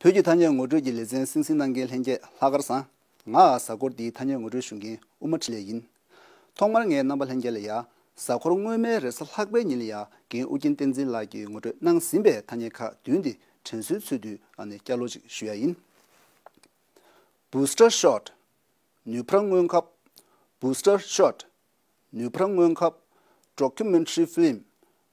བོད་ཀྱི་ཐ་སྙད་ངོ་སྤྲོད་ཀྱི་ལེ་ཚན་སིང་སིང་གནང་མཁན་ལྷན་རྒྱས་ལྷག་དཀར་བཟང། ང་ཨ་གཟའ་འཁོར་འདིའི་ཐ་སྙད་ངོ་སྤྲོད་ཞུ་མཁན་དབུ་མ་ཁྲི་ལས་ཡིན། ཐོག་མར་ངའི་རྣམ་པ་ལྷན་རྒྱས་ལ་ཡ། གཟའ་འཁོར་སྔོན་མའི་རེས་གཟའ་ལྷག་པའི་ཉིན་ལ་ཡ་རྒན་ཨུ་རྒྱན་བསྟན་འཛིན་ལགས་ཀྱིས་ངོ་སྤྲོད་གནང་ཟིན་པའི་ཐ་སྙད་ཁག་བདུན་འདི་དྲན་གསོའི་ཚུལ་དུ་ཨ་ནས་བསྐྱར་ལོ་ཅིག་ཞུ་ཡ་ཡིན། Booster Shot། ནུས་ཕར་སྔོན་ཁབ། Booster Shot། ནུས་ཕར་སྔོན་ཁབ། Documentary Film།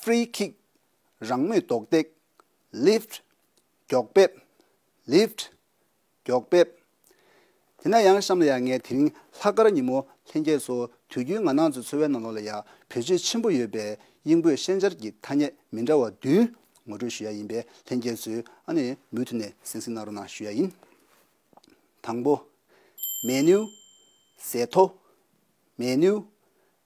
Free Kick། རང་མོས་རྡོག་རྡེག། Lift། མགྱོགས་འབེབས། Lift། མགྱོགས་འབེབས། དེ་ན་ཡང་གཤམ་ལ་ཡང་ངས་དེ་རིང་ལྷག་དཀར་ཉིན་མོ་ལྷན་རྒྱས་སུ་དུས་རྒྱུན་ང་ནང་ཚོའི་འཚོ་བའི་ནང་ལོགས་ལ་ཡང་བེད་སྤྱོད་ཆེན་པོ་ཡོད་པའི་དབྱིན་བོད་ཤན་སྦྱར་གྱི་ཐ་སྙད་མི་འདྲ་བ་བདུན་ངོ་སྤྲོད་ཞུ་ཡ་ཡིན་པས་ལྷན་རྒྱས་ཚོས་ཨ་ནི་མུ་མཐུད་ནས་གཟིགས་གཟིགས་གནང་རོགས་གནང་ཞུ་ཡ་ཡིན། དང་པོ། Menu། ཟས་ཐོ། Menu།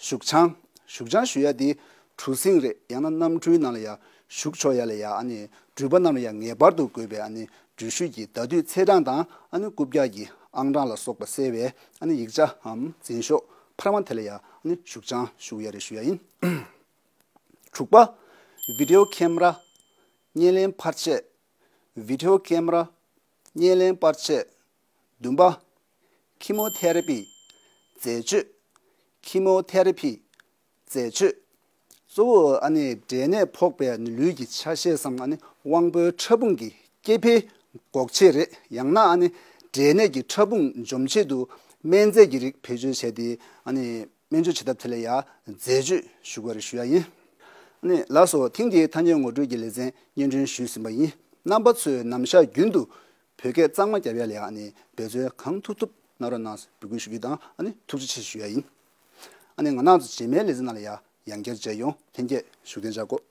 བཞུགས་བྱང། བཞུགས་བྱང་ཞུ་ཡ་དེ་གྲུ་གཟིངས་རེད་ཡང་ན་གནམ་གྲུའི་ནང་ལ་ཡང་བཞུགས་ཆོག་ཡ་ལ་ཡང་ཨ་ནི་འགྲུལ་པ་རྣམས་ལ་ཡང་ངེས་པར་དུ་དགོས་པའི་ཨ་ནི་འགྲུལ་བཞུད་ཀྱི་ཟླ་དུས་ཚེས་གྲངས་དང་ཨ་ནི་རྐུབ་བཀྱག་གི་ཨང་གྲངས་ལ་སོགས་པ་གསལ་བའི་ཨ་ནི་ཡིག་ཆ་འམ་འཛིན་ཤོག་འཕར་མ་དེ་ལ་ཡང་ཨ་ནི་བཞུགས་བྱང་བཞུགས་ཡ་རེ་ཞུ་ཡ་ཡིན། དྲུག་པ། Video Camera། བརྙན་ལེན་འཕར་ཆས། Video Camera། བརྙན་ལེན་འཕར་ཆས། བདུན་པ། Chemotherapy། འཛད་སྤྱོད། Chemotherapy། འཛད་སྤྱོད། གཙོ་བོ་ཨ་ནི་འབྲས་ནད་ཕོག་པའི་ལུས་ཀྱི་ཆ་ཤས་སམ་ཨ་ནི་དབང་པོའི་ཕྲ་ཕུང་གི་སྐྱེ་འཕེལ་འགོག་ཆེད་རེད་ཡང་ན་ཨ་ནི་འབྲས་ནད་ཀྱི་ཕྲ་ཕུང་འཇོམས་ཆེད་དུ་སྨན་རྫས་ཀྱི་རིགས་བེད་སྤྱོད་བྱས་ཏེ་ཨ་ནི་སྨན་བཅོས་བྱེད་ཐབས་དེ་ལ་ཡང་འཛད་སྤྱོད་ཞུ་བར་ཞུ་ཡ་ཡིན། ཨ་ནི་ལགས་སོ་ཐེངས་འདིའི་ཐ་སྙད་ངོ་སྤྲོད་ཀྱི་ལེ་ཚན་སྙན་སྒྲོན་ཞུས་ཟིན་པ་ཡིན་རྣམ་པ་ཚོས་ནམ་ཞག་རྒྱུན་དུ་བོད་སྐད་གཙང་མ་རྒྱབ་ཡ་ལེ་ཨ་ནི་འབད་རྩོལ་གང་ཐུབ་ཐུབ་གནང་རོགས་གནང་འབོད་སྐུལ་ཞུ་རྒྱུ་དང་ཨ་ནི་ཐུགས་རྗེ་ཆེ་ཞུ་ཡ་ཡིན་ཨ་ནི་ང་ནག་རྗེས་མའི་ལེ་ཚན་ནང་ལ་ཡ་ཡང་བསྐྱར་མཇལ་ཡོང་ལྷན་སྐྱེས་ཞུ་རྟེན་བྱ་དགོས།